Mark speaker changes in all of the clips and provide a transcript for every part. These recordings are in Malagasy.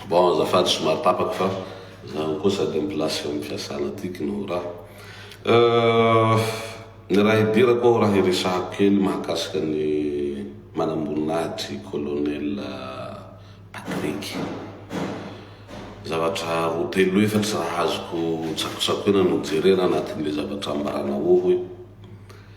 Speaker 1: Bon, azafady somary tapaka fa zaho koa sady amin'ny place amin'ny fiasana tiky no raha. Euh, ny raha hidirako ao raha hiresahako kely mahakasika ny manamboninahitry colonel Patrick. Zavatra roa telo efatra raha azoko tsakotsakoina no jerena anatin'ilay zavatra ambarana ohoy.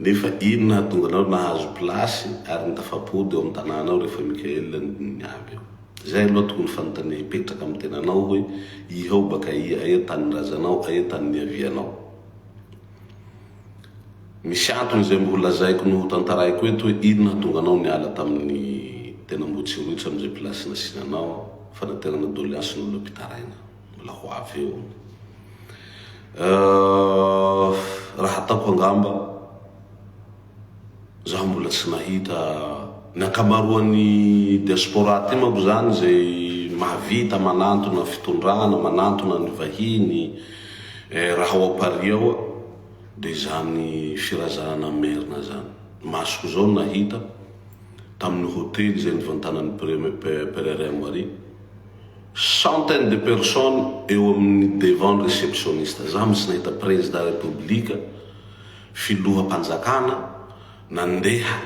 Speaker 1: Nefa inona hahatonga anao nahazo place ary ny tafapody ao amin'ny tanàna ao rehefa Mickaël no niavy ao? Izay aloha tokony fanontania hipetraka amin'ny tenanao hoe iha o baka aia, aia tanin'ny razanao, aia tanin'ny niavianao? Misy antony izay mbo holazaiko no hotantaraiko eto hoe inona hahatonga anao niala tamin'ny tena Ambohitsirohitra amin'izay place nasiana anao, fanaterana doleansin'olona mpitaraina. Mbola ho avy eo. Raha ataoko angamba, zaho mbola tsy nahita ny ankamaroan'ny diaspora aty manko izany izay mahavita manantona fitondrana, manantona ny vahiny eh, raha ao Paris ao dia izany firazanana merina izany. Ny masoko izao no nahita tamin'ny hotely izay nivantanan'i Premier Pierre Henri. Centaines de personnes eo amin'ny devant ny receptionniste. Za mitsy nahita prezida repoblika, filoham-panjakana nandeha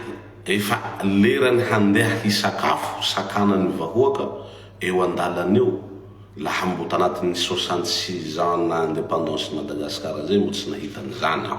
Speaker 1: efa lerany handeha hisakafo sakanan'ny vahoaka eo an-dalana eo laha mbo tanatin'ny soixante six ans na independance-n'i Madagascar zay mbo tsy nahita an'izany aho.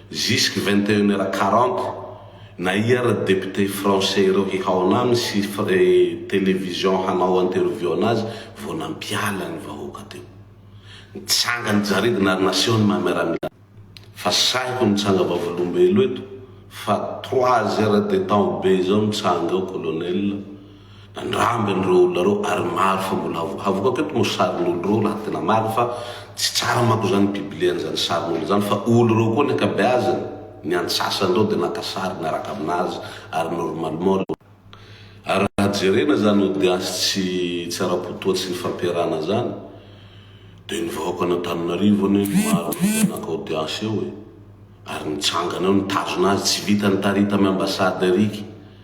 Speaker 1: Jusque vingt et une heure quarante, na ia ary député français ireo hihaona aminy sy télévision hanao interview anazy vao nampiala ny vahoaka teo. Nitsanga ny jaridina ary naseho ny maha miaramila. Fa sahiko nitsanga vavolombelo eto fa trois heures de temps be izao nitsanga ao colonel, Nandramby ireo olona ireo ary maro fa mbola avo. Havokako eto moa sarin'olo ireo raha tena marina fa tsy tsara manko izany biblian izany sarin'olo izany fa olo ireo koa ny ankabeazany, ny antsasany ireo dia naka sary niaraka aminazy ary normalement ireo. Ary raha jerena izany audience tsy tsy ara-po toa tsy nifampiarahana izany dia ny vahoaka an' Antananarivo anie no maro indrindra naka audience eo e! Ary nitsangana eo nitazona azy tsy vita nitarita am ambassade ariky.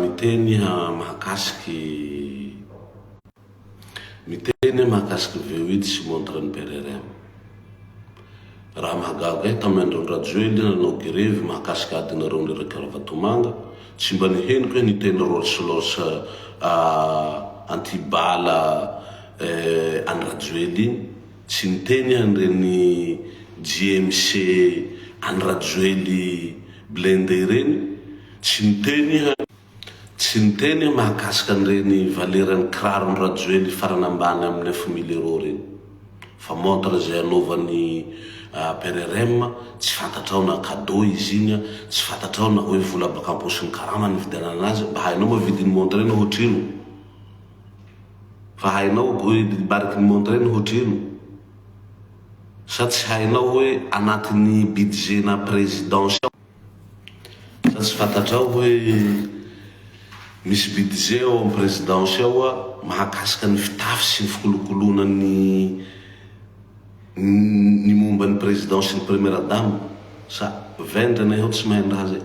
Speaker 1: Miteny mahakasiky Miteny mahakasiky VOIT sy montre ny PRRM. Raha mahagaga ahy, tamin'ny andron'i Rajoelina nanao grevy mahakasiky adinareo mireraka Ravatomanga, tsy mba nihenoko hoe niteny Rolls Royce anti-bala an'i Rajoelina iny, Tsy niteny an reny JMC an'i Rajoely blindé ireny, tsy niteny iha, tsy niteny iha mahakasika an'ireny valeran'ny kiraron'i Rajoely farany ambany amin'ny neuf mille euros ireny. Fa montre izay anaovan'i PRRM, tsy fantatrao na cadeau izy iny an, tsy fantatrao na hoe vola baka am-paosin'ny karama nividianana azy, mba hainao moa vidin'ny montre iny ohatrino? Fa hainao hoe ny mariky ny Mondreny hoatrino? Sa tsy hainao hoe anatin'ny budget-na Présidence ao? Sa tsy fantatrao hoe misy budget ao amin'ny Présidence ao mahakasika ny fitafy sy ny fikolokoloana ny ny momba ny Président sy ny Première Dame? Sa vendrana ianao tsy mahay ny raha zay?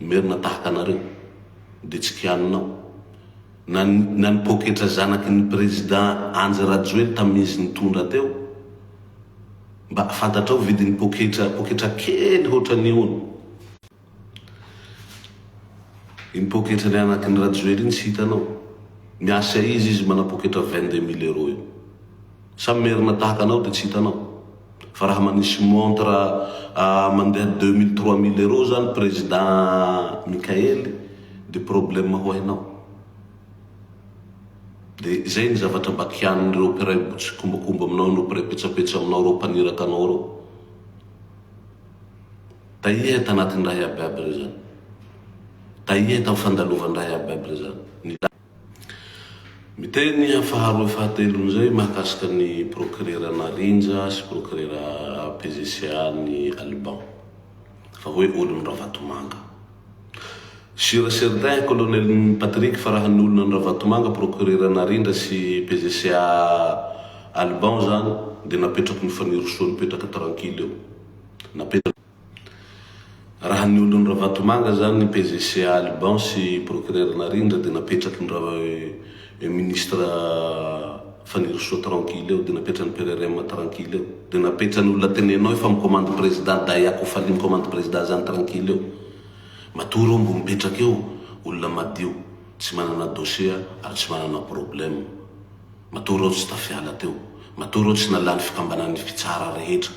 Speaker 1: Ny merina tahaka anareo dia tsy kianina aho. Na ny na ny poketra zanaky ny président Andry Rajoely tamin'ny izy nitondra teo. Mba fantatrao vidin'ny poketra poketra kely hoatran'ny hono. Iny poketra ny anaky ny Rajoely iny tsy hitanao. Miasa izy izy manam-poketra vingt deux mille euros io. Samy merina tahaka anao de tsy hitanao. Fa raha manisy montre mandeha deux mille trois mille euros zany président Mickael de problème ho hainao. De zay ny zavatra mba kianin'ireo mpiray tsikombakomba aminao ireo mpiray petsapetsa aminao ireo mpaniraka anao ireo. Tahiahy tanatin'ny raha iabiaby ireo zany. Tahiahy tam fandalovany raha iabiaby ireo zany. Miteny faharoa fahatelo amin'izay mahakasika ny Prokirera Narindra sy Prokirera PGCA ny Alban fa hoe olon'i Ravatomanga. Sur et certain Colonel Patrick fa raha ny olona an'i Ravatomanga Prokirera Narindra sy PGCA Alban izany dia napetrako ny Fanirisoa nipetraka tranquille eo. Napetrako. Raha ny olon'i Ravatomanga zany ny PGC Alban sy Procureur Narindra dia napetraky ny ra eh Ministre Fanirisoa tranquille eo, dia napetran'ny PRRM tranquille eo, dia napetran'ny olona tenenao efa mi-commande Président Dahy Akofali mi-commande Président zany tranquille eo. Matory eo mbo mipetraka eo olona madio tsy manana dossier ary tsy manana problème. Matory eo tsy tafiala teo. Matory eo tsy nalany fikambanan'ny fitsara rehetra.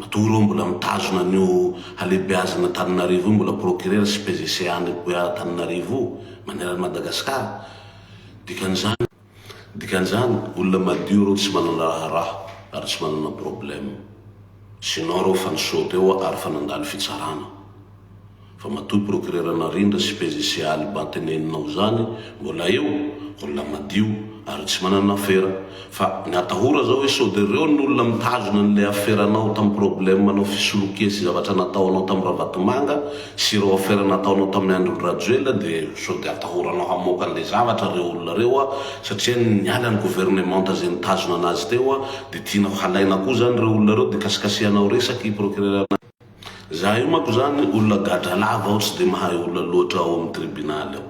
Speaker 1: Matoa ireo mbola mitazona an'io halehibeazana Antananarivo io mbola procureur sy PGC any Buea Antananarivo io maneran'i Madagascar. Dikan'izany. Dikan'izany, olona madio ireo tsy manana raharaha ary tsy manana problème. Sinon ireo efa nisaute eo ary efa nandalo fitsarana. Fa matoa procureur Narindra sy PJC Alba teneninao zany mbola eo, olona madio ary tsy manana afera. Fa ny atahora zao hoe sode reo ny olona mitazona anle aferanao tam problème anao fisolokia sy zavatra nataonao tam Ravatomanga sy ireo afera nataonao tamin'ny andron Rajoelina de sode atahoranao hamoaka anle zavatra reo olona reo a satria niala ny gouvernementa ze nitazona anazy teo a de tianao halaina koa zany reo olona reo de kasikasihanao resaky procureur Za io manko zany olona gadra lava aho tsy dia mahay olona loatra ao amin'ny tribunal ao.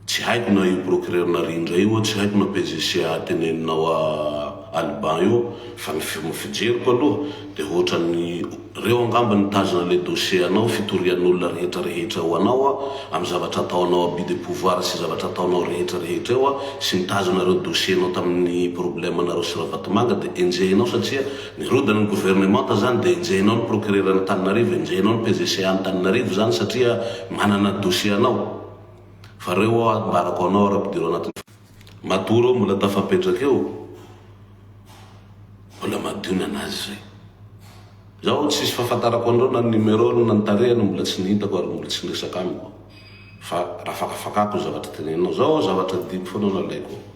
Speaker 1: Tsy haiko na io procureur Narindra io tsy haiko na PGCA teneninao à Alban io fa ny fijeriko aloha dia hoatran'ny reo angamba nitazona le dossier anao fitorian'olona rehetra rehetra eo anao amin'ny zavatra ataonao abus de pouvoir sy zavatra ataonao rehetra rehetra eo sy nitazona reo dossier nao tamin'ny problème nareo sy Ravatomanga dia enjehinao satria Ny road ny gouvernemanta zany dia enjehinao ny procureur an'Antananarivo enjehinao ny PGCA an'Antananarivo zany satria manana dossier anao fa reo aho ambarako anao ary ampidiro anaty matoa reo mbola tafapetraka eo mbola madio ny anazy zay zaho tsisy fahafantarako an'reo na ny numero na ny tarehany mbola tsy nihitako ary mbola tsy niresaka amiko fa rafakafakako ny zavatra tenenanao zao zavatra dimy foana nalaiko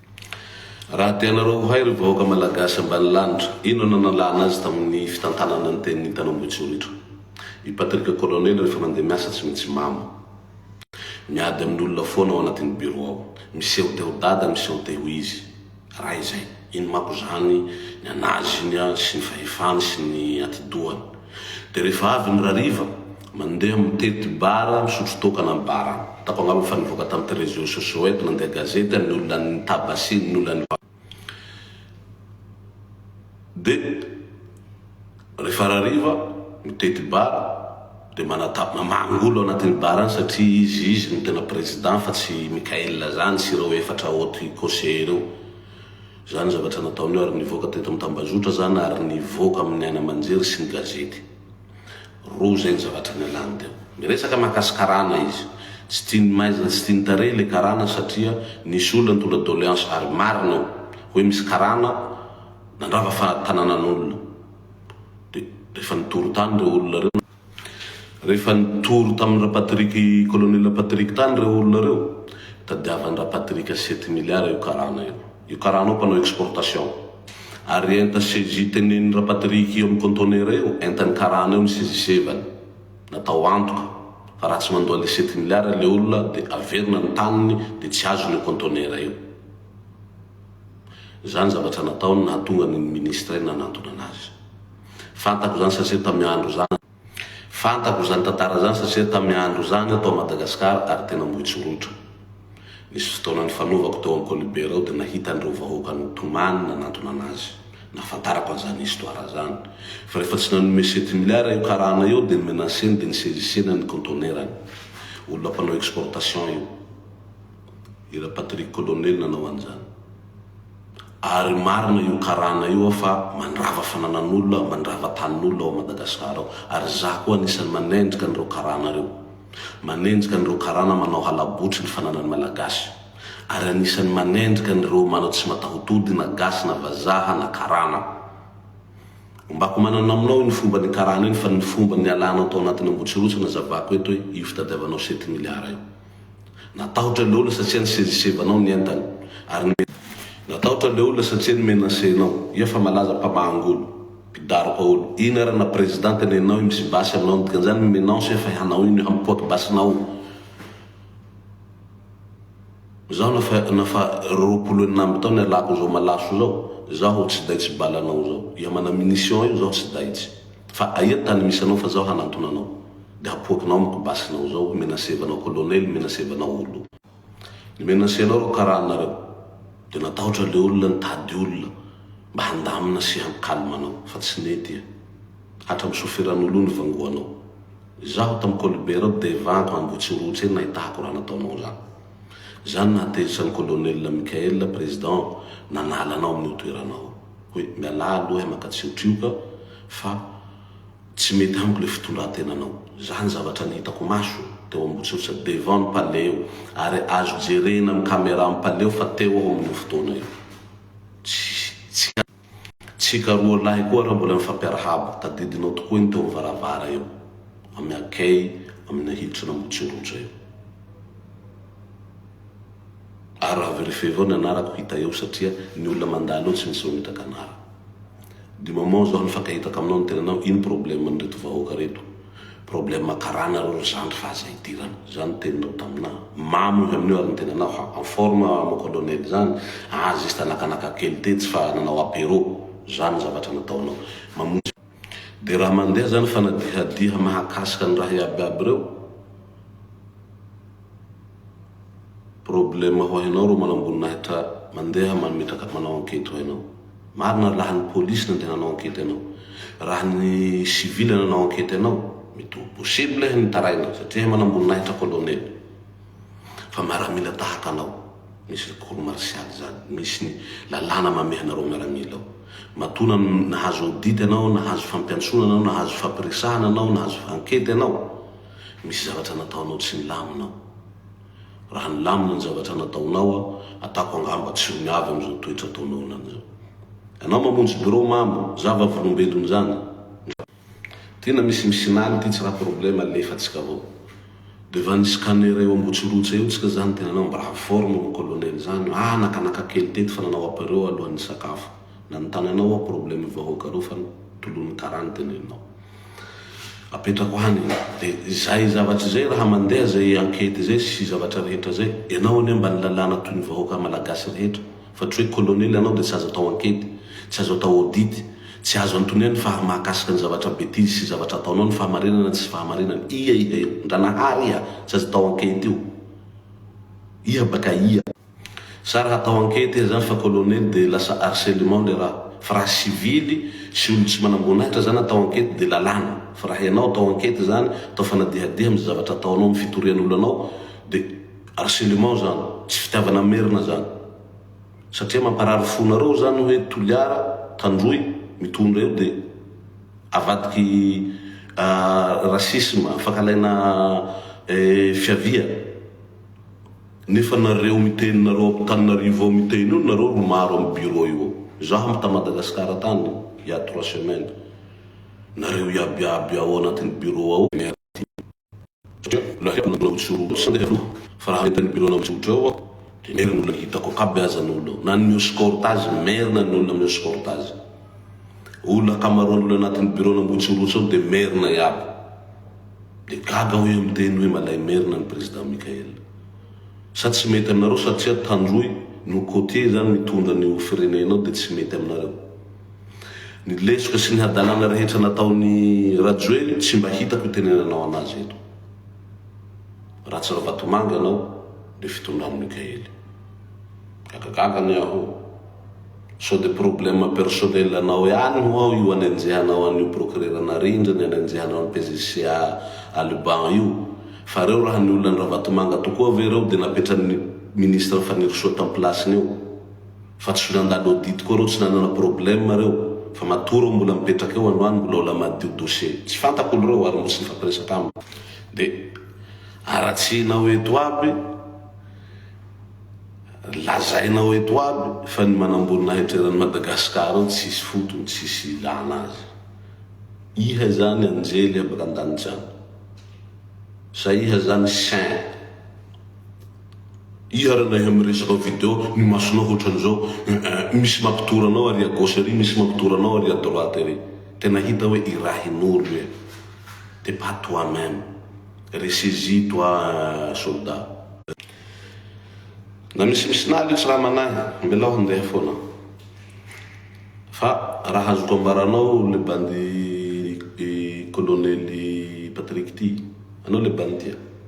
Speaker 1: Raha tianareo ho hay ry vahoaka Malagasy ambanilanitra, inona no nalana azy tamin'ny fitantanana ny tenin'i Tanambotsinjritra? I Patrick Colonel rehefa mandeha miasa tsy mitsimamo. Miady amin'olona foana ao anatin'ny bureau ao. Miseho te ho dada, miseho te ho izy. Raha izay, iny manko izany ny an'azy iny sy ny fahefany sy ny atidohany. Dia rehefa avy ny rariva, Mandeha mitety bara, misotro toaka na bara. Hitako angamba fa nivoaka tamin'ity réseaux sociaux eto, nandeha gazety, ny olona an'ny Tabasia, ny olona an'i Vava. Dia rehefa rariva, mitety bara, dia manatap, manangolo ao anatin'ny bara any satria izy, izy no tena président fa tsy i Mickaël zany sy ireo efatra haute conseillers ireo. Izany zavatra nataony eo ary nivoaka teto amin'ny tambazotra izany ary nivoaka amin'ny haino aman-jery sy ny gazety. Roa izay ny zavatra nialany teo. Miresaka mahakasy karana izy. Tsy tian'ny maizina, tsy tian'ny tarehy ilay karana satria nisy olona nitondra doléance ary marina io. Hoe misy karana nandrava fa tananan'olona. Dia rehefa nitory tany ireo olona ireo, rehefa nitory tamin'ny Rapatrick, Colonel Rapatrick tany ireo olona ireo, tadiavan'i Rapatrick sept milliards io karana io. io karana io mpanao exportation ary enta CJ teneniny rapatrique io amin'ny contonera io entany karana io ny sezisevany natao antoka fa raha tsy mandoa les sept milliards le olona dia averina ny taniny dia tsy azony io contonera io izany zavatra nataony nahatonga ny ny ministre nanantona anazy fantako izany satria tamin'ny andro izany Fantako izany tantara izany satria tamin'ny andro izany aho tao Madagasikara ary tena moitsoritra. Nisy fotoana nifanovako teo amin'ny Kolibera ao dia nahita an'ireo vahoaka nitomany nanantona an'azy. Nahafantarako an'izany histoire izany. Fa rehefa tsy nanome sept milliards io karana io dia ni-menacer-ny dia ni-saisissena ny contenaire-ny. Olona mpanao exportation io. I Ra Patrick Colonel nanao an'izany. Ary marina io karana io aho fa mandrava fananan'olona, mandrava tanin'olona ao Madagascar ao. Ary izaho koa anisan'ny manenjika an'ireo karana ireo. Manenjika an'ireo karana manao halabotry ny fananan'ny Malagasy. Ary anisan'ny manenjika an'ireo manao tsy matahotody na gasy na vazaha na karana. Ombako manana aminao iny fomba nikarana iny fa ny fomba nialanao tao anatin'ny Ambohitsirotsy nazavako eto hoe io fitadiavanao sept milliards io. Natahotra ilay olona satria nisezisevanao ny entany, ary nomena. Natahotra ilay olona satria ni-menacer-nao. Iha fa malaza mpamaha angolo, mpidaroka olo. Ino ary na president tenenao io misy basy aminao ny dikan'izany mi-menance iha fa ianao io ny hampipoaka basinao io. Izaho na fa na fa roapolo enina amby taona ialako izao malaso izao, izaho tsy daitsy balanao izao. Iha mana munition io izaho tsy daitsy. Fa aia ny tany misy anao fa zaho hanantona anao de hapoakinao amiko basinao zao menacevanao colonel menacevanao olo. Ny menace anao ro karaha anareo de natahotra le olona nitady olona mba handamina sy han calme anao fa tsy nety e. Hatram sofiran'olo ny vangoanao. Izaho tam kolibera ao de evanko ambotsirotsy eny nahitako raha nataonao zany. Zany nahatezitra ny colonel Michael président nanala anao amin'io toeranao io. hoe mialà aloha eh maka tsy ho trioka fa tsy mety amiko le fitondrantenanao za ny zavatra ny hitako maso teo Ambositra devant ny palais eo ary azo jerena am camera am palais eo fa teo aho amin'io fotoana io tsy tsika roa lahy koa ra mbola nifampiarahaba tadidinao tokoa iny teo am varavara eo am akey amina hilitry n'Ambotsindotra eo. Ary raha verifier avao ny anarako hita eo satria ny olona mandalo eo tsy misy mametraka anara. Du moment zao nifankahitaka aminao ny tenanao ino problème an'ireto vahoaka reto? Problème karana reo ry zandry fa aza idirana. Zany ny teninao taminà. Mamo avy amin'io ary ny tenanao ha en forme mon colonel zany ah juste nakanaka kely tetsy fa nanao apéro. Zany ny zavatra nataonao. Mamonjy. Dia raha mandeha izany fanadihadiha mahakasika ny raha iaby iaby ireo, problème ho hainao reo manamboninahitra mandeha mametraka manao enquête ho hainao. Marina laha ny police nandeha nanao enquête anao. Raha ny civil nanao enquête anao, mety ho possible ny hitaraina satria manamboninahitra colonel. Fa miaramila tahaka anao, misy ny cour martiale izany, misy ny lalàna mamehy anareo miaramila ao. Matoa na nahazo audit ianao, nahazo fampiantsoana ianao, nahazo fampiresahana ianao, nahazo ankety ianao, misy zavatra nataonao tsy nilamina ao. Raha nilamina ny zavatra nataonao aho, ataoko angamba tsy ho miavy amin'izao toetra ataonao anany izao. Ianao mamonjy birao mamo, zavavolombelona izany. Tena misy misinany ty tsy ra problème alefatsika avao devant ny scanner eo ambotsirotsy eo tsika zany tenanao mba haforme mon colonel zany ah nakanaka kely teto fa nanao apero alohan'ny nisakafo nanontany anao aho problème vahoaka reo fa tolony kara ny teneninao apetrako any de zay zavatry zay raha mandeha zay enquete zay sy zavatra rehetra zay enao anie mba ny lalàna toy ny vahoaka malagasy rehetra Fa tsy hoe colonel ianao dia tsy azo atao enquete, tsy azo atao audit, tsy azo anotoniany fa mahakasika ny zavatra betizy sy zavatra ataonao ny fahamarinana tsisy fahamarinana. Ia iha io? Ndranahaary iha? Tsy azo atao enquete io. Iha baka aia? Sa raha atao enquete iha zany fa colonel dia lasa harcelement le raha. Fa raha sivily sy olona tsy manamboninahitra zany atao enquete dia lalàna. Fa raha ianao atao enquete zany, atao fanadihadiha amin'ny zavatra ataonao, amin'ny fitorian'olona anao dia. Harcèlement zany, tsy fitiavana merina zany. Satria mamparary fo nareo zany hoe Toliara, Tandroy, mitondra io dia avadiky racisme, fankalaina fiavia. Nefa nareo miteny nareo Antananarivo ao miteny io nareo ro maro am bureau io ao. Izaho am ta Madagascar tany il ya trois semaines, nareo iaby iaby ao anatiny bureau ao. Merci. satria mbola haiko ny manao tsiroho sy handeha aloha fa raha entin'ny bureau anao mitsotra eo aho dia merina ny olona hitako ao kaby aza ny olona ao na ny mioscorte azy merina ny olona mioscorte azy olona ankamaroan'ny olona anatin'ny bureau anao motsirotsy ao dia merina iaby dia gaga aho hoe miteny hoe malay merina ny président Michael sa tsy mety aminareo satria tandroy no côtier izany mitondra ny ho firenena ao dia tsy mety aminareo Ny lesoka sy ny hadalana rehetra nataon'i Rajoely tsy mba hitako itenenanao anazy eto. Ratsy Ravatomanga anao le fitondran'i Mikaely. Gagagaga anie aho. Sao de problème personnel anao ihany ho'aho io anenjehanao an'io procureur Narindra ny anenjehanao an'i PGC à Alban io. Fa reo raha ny olona an'i Ravatomanga tokoa ve reo de napetran'ny ministre Fanirisoa tam-pilasiny eo. fa tsy nandalo audit koa reo tsy nanana problème reo fa matoa reo mbola mipetraka eo androany mbola ola madio dossier tsy fantako olo reo ary mbola tsy nifampiresaka amiko de aratsihinao eto aby lazainao eto aby fa ny manamboninahitra eran'i Madagascar ao tsisy fotony tsisy ilana azy iha izany anjely avy randanitsa sa iha izany saint Iharanay amin'ny resaka video, ny masonao hoatran'izao eeh, misy mampitory anao ary à gauche ery misy mampitory anao ary à droite ery. Tena hita hoe irahin'olona e. T'es pas toi meme. Ressaisis toi soldat. Na misimisy na aleo tsy raha manahy, mbelao handeha foana. Fa raha azoko ambaranao le bandy i kolonely Patrick ty, anao le bandy tia.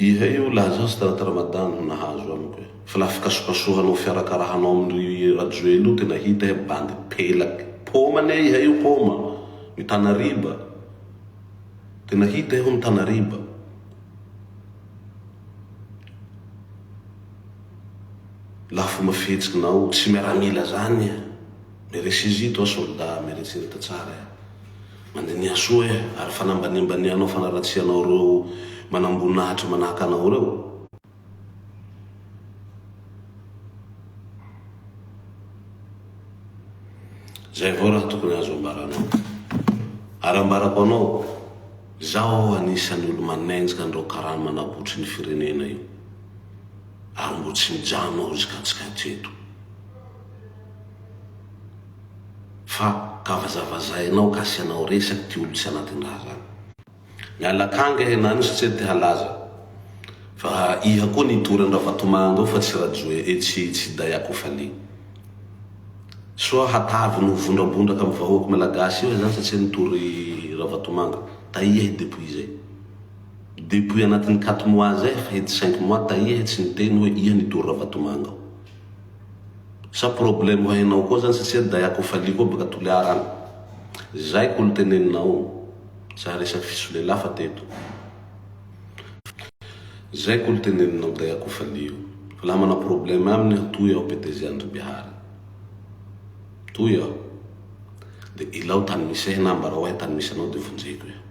Speaker 1: Iha io laza azy taraty Ramadan no nahazo amiko e. Fa la fikasokasohanao fiarakarahanao amin ry Rajoely io tena hita e bandy pelaky paoma anie iha io paoma mitana riba tena hita iha mitana riba. la fomba fihetsik nao tsy miaramila zany eh meresi zy toi solda meresi ny tatsara eh mandiniha soa eh ary fanambaniambanihanao fanaratsianao reo manamboninahitra manahaka anao reo zay avao raha tokony azo ambaranao ary ambarako anao zaho anisany olo manenjika anreo karana manabotry ny firenena io ary mbo tsy mijanona ao izy ka tsy kato eto fa ka vazavazainao ka asianao resaky ty olo tsy anatiny raha zany. Miala akanga e Nani sy Tsety halaza fa iha koa nitory an Ravatomanga ao fa tsy Rajoe eh tsy tsy Dai Akofaliy. Soa hatavy ny ho vondrabondraka am vahoak Malagasy eo izany satsia nitory Ravatomanga. Taia i Depouille zay. Depouille anatin'ny quatre mois zay fa ity cinq mois tahiahy tsy niteny hoe iha ny tour ravatomanga ao. Sa problème hainao koa zany satsia daya ko fally koa baka toliara any. Zay ko lteneninao o. Za resaky fisolelafa teto. Zay ko lteneninao daya ko fally io. Fa laha mana problème aminy aho toy aho PDG Andribihary. Toy aho. De ilao tany misy ahy na ambarao ahy tany misy anao de vonjeko eo.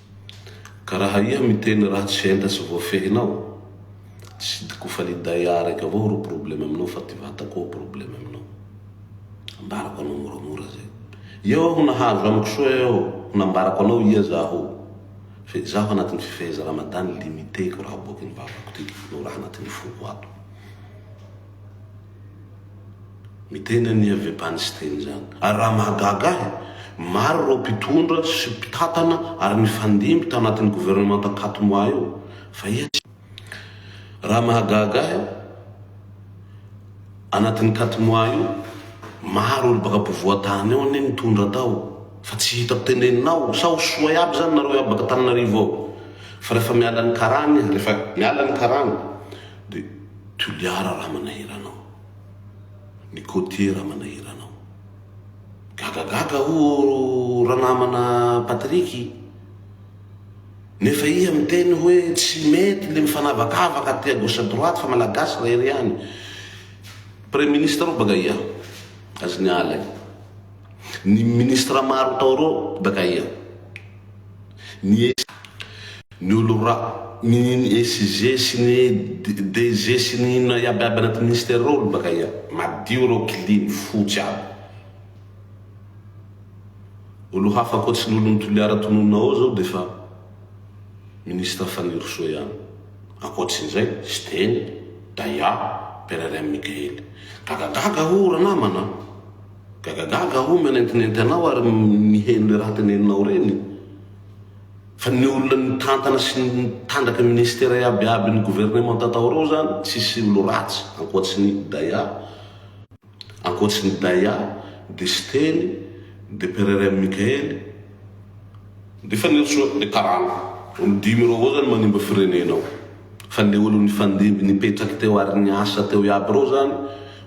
Speaker 1: Ka raha iha miteny raha tsy enta sy voafehinao, tsy di ko fa ny Daya araiky avao ro probleme aminao fa ty vata koa probleme aminao. Ambarako anao moramora zay. Eo aho nahazo amiko soa eo aho nambarako anao iha zaho fe zaho anatiny fifeheza Ramadan limite ko raha aboaky ny vavako ty no raha anatiny foko ato. Miteny an'i Avebany Siteny izany. Ary raha mahagaga ahy, maro ireo mpitondra sy mpitantana ary nifandimby tanatin'ny governemanta Katmoa io, fa iza izany? Raha mahagaga ahy, anatin'ny Katmoa io, maro olo baka ampovoan-tany ao anie nitondra tao, fa tsy hitako tenenina ao, sa ho soa iaby izany nareo iaby baka Antananarivo ao? Fa rehefa miala ny karana izy, rehefa miala ny karana, Dia Toliara Ramanahirana ao. Ny côtier Ramanahirana ao. Gagagaga ho'o ranamana Patrick. Nefa iha miteny hoe tsy mety le mifanavakavaka aty à gauche à droite fa malagasy rery ihany. Premier ministre ao baka iha. Azy ny ala e. Ny ministre maro tao reo baka iha. Ny Ny olo ra. Ny SG sy ny DG sy ny inona iaby aby anaty ministère reo olo bakaia. Madio reo clean, fotsy aby. Olo hafa akoatry ny olon'i Toliara tononina ao zao defa ministre Fanirisoa ihany. Akoatrin'izay, Siteny, Daya, Pererem Mikaely. Gagagaga o ranamana a! Gagagaga o mihanentinenty anao ary miheno le raha teneninao reny. Fa ny olona nitantana sy nitandraka ministera iaby iaby ny gouvernementa tao reo zany tsisy olo ratsy ankoatry ny Daya ankoatry ny Daya de Siteny de Pererem Mikaely de Fanirisoa de karana olo dimy reo avao zany manimba firenena ao fa le olo nifandimby nipetraky teo ary niasa teo iaby reo zany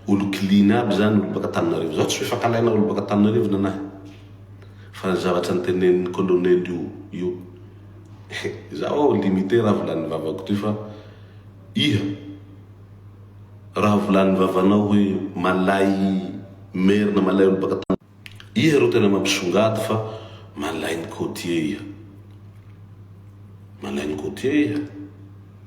Speaker 1: olo clean iaby zany olo baka Tananarivo zaho tsy fifakalaina olo baka Tananarivo nanahy Fa ny zavatra nitenenin'ny colonel io io izaho aho limite raha volan'ny vavako ty fa iha raha volan'ny vavanao hoe malay merina malay olo baka tany iha ro tena mampisongady fa malain'ny côtier iha malain'ny côtier iha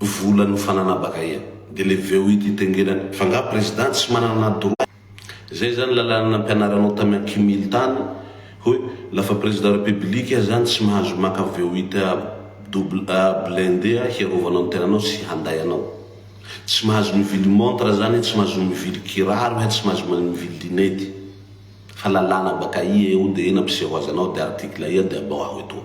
Speaker 1: vola no fananabaka ia de le veo ity tengenany fa nga president tsy manana droit zay zany lalana nampianaranao tamy akimily tany hoe lafa president repebilika ia zany tsy mahazo maka veo ita double a blindé a hiarovanao ny tenanao sy handay anao tsy mahazo mivily montre zany ia tsy mahazo mivily kiraro ia tsy mahazo mivily linety fa lalana baka ia eo de nampiseho azy anao de article ia de abao aho etoa.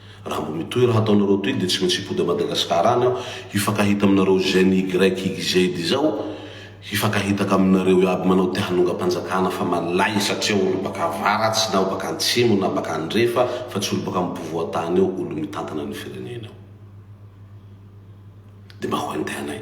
Speaker 1: Raha mbola io toerana ataonareo toy dia tsy maintsy hipody à Madagascar any aho hifankahita aminareo GENYYZ izao hifankahitaka aminareo iaby manao te hanonga mpanjakana fa malay satria olo baka avaratsy na baka antsimo na baka andrefa fa tsy olo baka ampovoantany eo olo mitantana ny firenena eo dia mba ho entehanay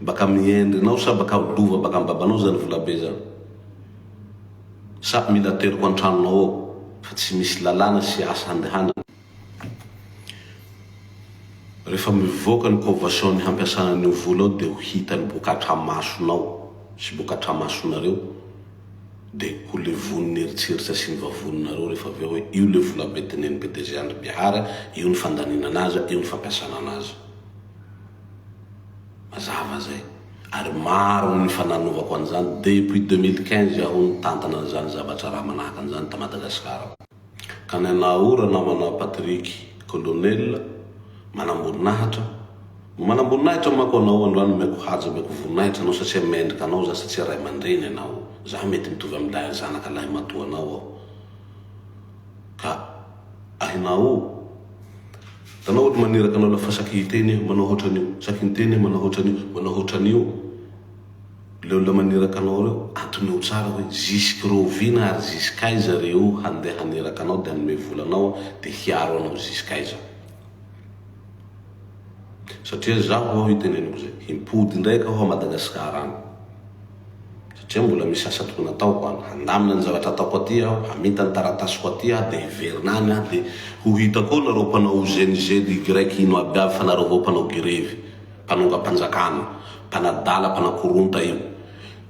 Speaker 1: Baka amin'ny endrinao sa baka lova baka amin'ny babanao zany volabe zany? Sa mila ateriko an-tranonao ao fa tsy misy lalàna sy asa handehanana? Rehefa mivoaka ny convention-ny hampiasana an'io vola io dia ho hitany boka atramasonao sy boka atramasonareo dia ho levon'ny eritreritra sy ny vavoninareo rehefa avy eo hoe io le volabe tenenin'i PDG Andry Bihary, io ny fandaninana azy, io ny fampiasana anazy. Mazava zay. Ary maro ny efa nanovako an'izany. Depuis 2015 aho nitantana an'izany zavatra raha manahaka an'izany ta Madagascar ao. Ka ny anao o ranamanao Patrick Colonel, manamboninahitra, no manamboninahitra manko anao androany omeko haja omeko voninahitra anao satria mendrika anao za satria ray aman-dreny anao za mety mitovy amin'ilay zanaka lahimatoanao aho ka ahinao o Tanao ohatry maniraka anao lafa saky hiteny io, manao hoatran'io, saky miteny io, manao hoatran'io, manao hoatran'io. Le olona maniraka anao reo, antonio tsara hoe zisk'reo oviana ary zisk'aiza reo handeha haniraka anao de hanome vola anao de hiaro anao zisk'aiza. Satria zaho ao iteneniko zay, himpody indraika aho a Madagascar any. satria mbola misy asa tokony hataoko any, handamina ny zavatra ataoko aty aho, haminta ny taratasiko aty aho dia hiverina any aho dia ho hita koa nareo mpanao OZNIZEDY ino aby avy fa nareo avao mpanao gerevy, mpanongam-panjakana, mpanadala, mpanakoronta io.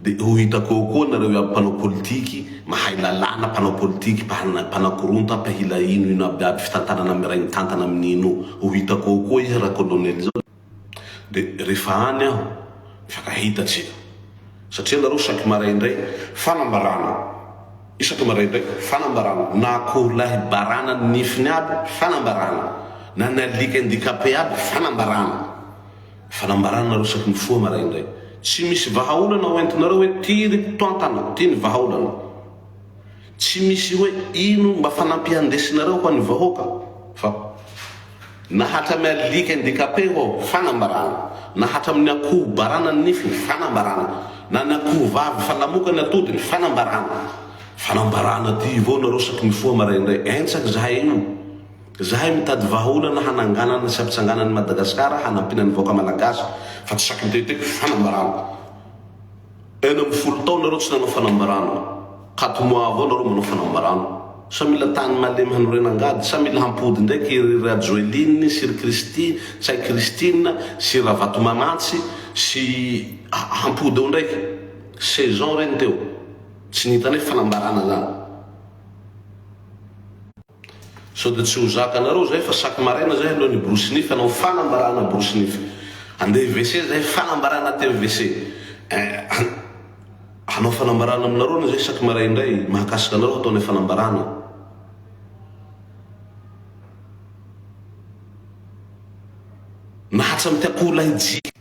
Speaker 1: Dia ho hitako eo koa nareo iaby mpanao politiky, mahay lalàna, mpanao politiky, mpanana, mpanakoronta, mpahila ino ino aby aby fitantanana miray mitantana amin'ino io, ho hitako eo koa izy rakolonely zao. Dia rehefa any aho, mifankahita tsika. Satria ianareo saky maraindray, fanambarana, isaky maraindray, fanambarana, na akoho lahy barana ny nifiny aby, fanambarana, na ny alika handicapé aby, fanambarana. Fanambarana nareo saky mifoha maraindray. Tsy misy vahaolana ho entinareo hoe ty ry mpitantana, ty ny vahaolana. Tsy misy hoe ino mba fanampian ndesinareo ho an'ny vahoaka fa na hatramin'ny alika handicapé ho ao, fanambarana, na hatramin'ny akoho barana ny nifiny, fanambarana, na ny akoho vavy fa lamoka ny atodiny, fanambarana, fanambarana aty ivao nareo saky mifoha maraindray, entsaky zahay io, zahay mitady vahaolana hananganana sy hampitsangana an'i Madagascar hanampiana ny vahoaka Malagasy fa tsy saky miteteko, fanambarana. Enina ambin'ny folo taona nareo tsy nanao fanambarana, quatre mois avao nareo manao fanambarana. Sa mila tany malemy hanorena angady? Sa mila hampody ndraiky i ry Rajoeline sy ry Kristy sa i Christine sy Ravatomanantsy sy hampody eo ndraiky? Saison reny teo. Tsy ny hitanay fanambarana zany. Sao dia tsy ho zaka anareo zay fa chaque maraina zay aleo ny borosy nify hanao fanambarana borosy nify. Andeha WC zay fanambarana aty amin'ny WC. Eh an! Hanao fanambarana aminareo anie zay chaque marais indray, mahakasika anareo hatao ilay fanambarana. Na hatram ty akoholahy jiaby.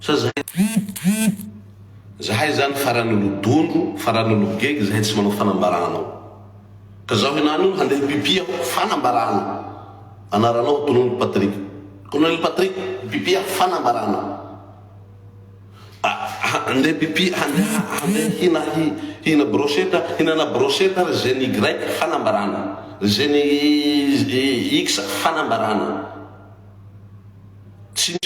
Speaker 1: Sa zahay zany? Zahay zany farany olodondro, farany ologegy zahay tsy manao fanambarana ao. Ka zaho henany io handeha hipipi aho, fanambarana. Anaranao Tonony Patrick. Colonel Patrick, hipipi aho, fanambarana. Ah, handeha hipipi, handeha, handeha hina, hi, hina brochette, hinana brochette ry zeny Y, fanambarana. Ry zeny X, fanambarana. Tsy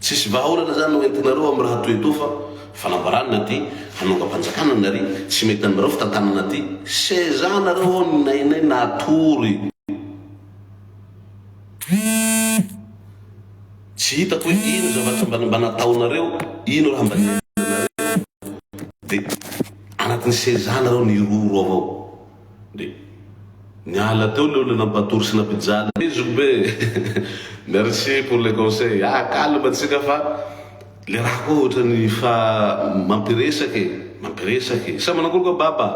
Speaker 1: Tsisy vahaolana zany no entinareo am raha toy etoa fa fanambarana aty hanongam-panjakana nary tsy mety aminareo fitantanana aty seza nareo ao ny nainay natory tsy hitako hoe ino zavatra mba mba nataonareo ino raha mba niainanareo de anatin'ny seza nareo niroro ao ao Dia niala teo le olona nampatory sy nampijaly anay zokibe e! Merci pour le conseil! Ah calme antsika fa le raha koa ohatrany fa mampiresaka e! Mampiresaka e! Sa manakory koa Baba?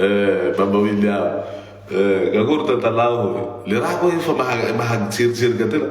Speaker 1: Eh Baba William! Eh! Akory tantalaho e! Le raha koa efa maha-tseriserika tena!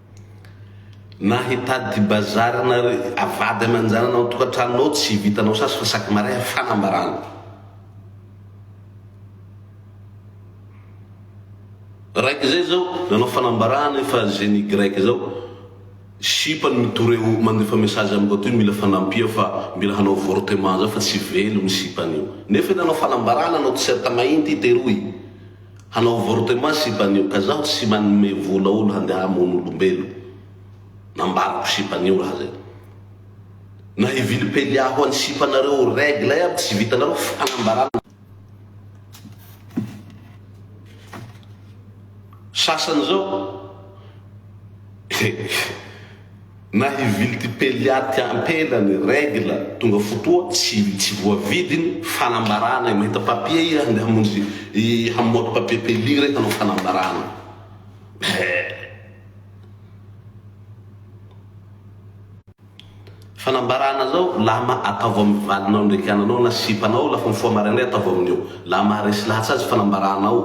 Speaker 1: Na hitady bazary na ry vady aman-janany ao an-tokantranonao tsy vitanao sasy fa sac marin fanambarana. Raiky izay izao nanao fanambarana efa zeny grec izao sipa no mitory eo mandefa message amin'ny boîte hoe mila fanampia fa mila hanao avortement zao fa tsy velo ny sipany io. Nefa io nanao fanambarana anao tiserta mahinty i teroy. Hanao avortement sipanio ka zaho tsy manome vola olo handeha hamono olombelo nambarako sipanio raha zay na hivily pelia ho any sipanareo règle iaby tsy vitanareo fanambarana sasany zao Na hivily ty peliat ty ampela ny règle tonga fotoa tsy tsy voavidy ny fanambarana e mahita papier iha ndeha hamonjy hamoaka papier peli re hanao fanambarana Fanambarana zao lama ataovo amin'ny valinao ndraiky ananao na sipanao lafa mifoha maraindray ataovo amin'io. Laha maharesy lahatsa azy fanambarana ao.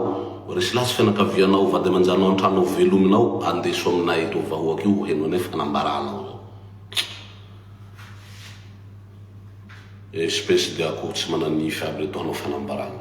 Speaker 1: Resy lahy sy fianakavianao, vady aman-janao an-trano ao velominao, andeso aminay eto vahoaka io heno anay fanambaranao zao. Espèce de akoho tsy mananify aby reto hanao fanambarana.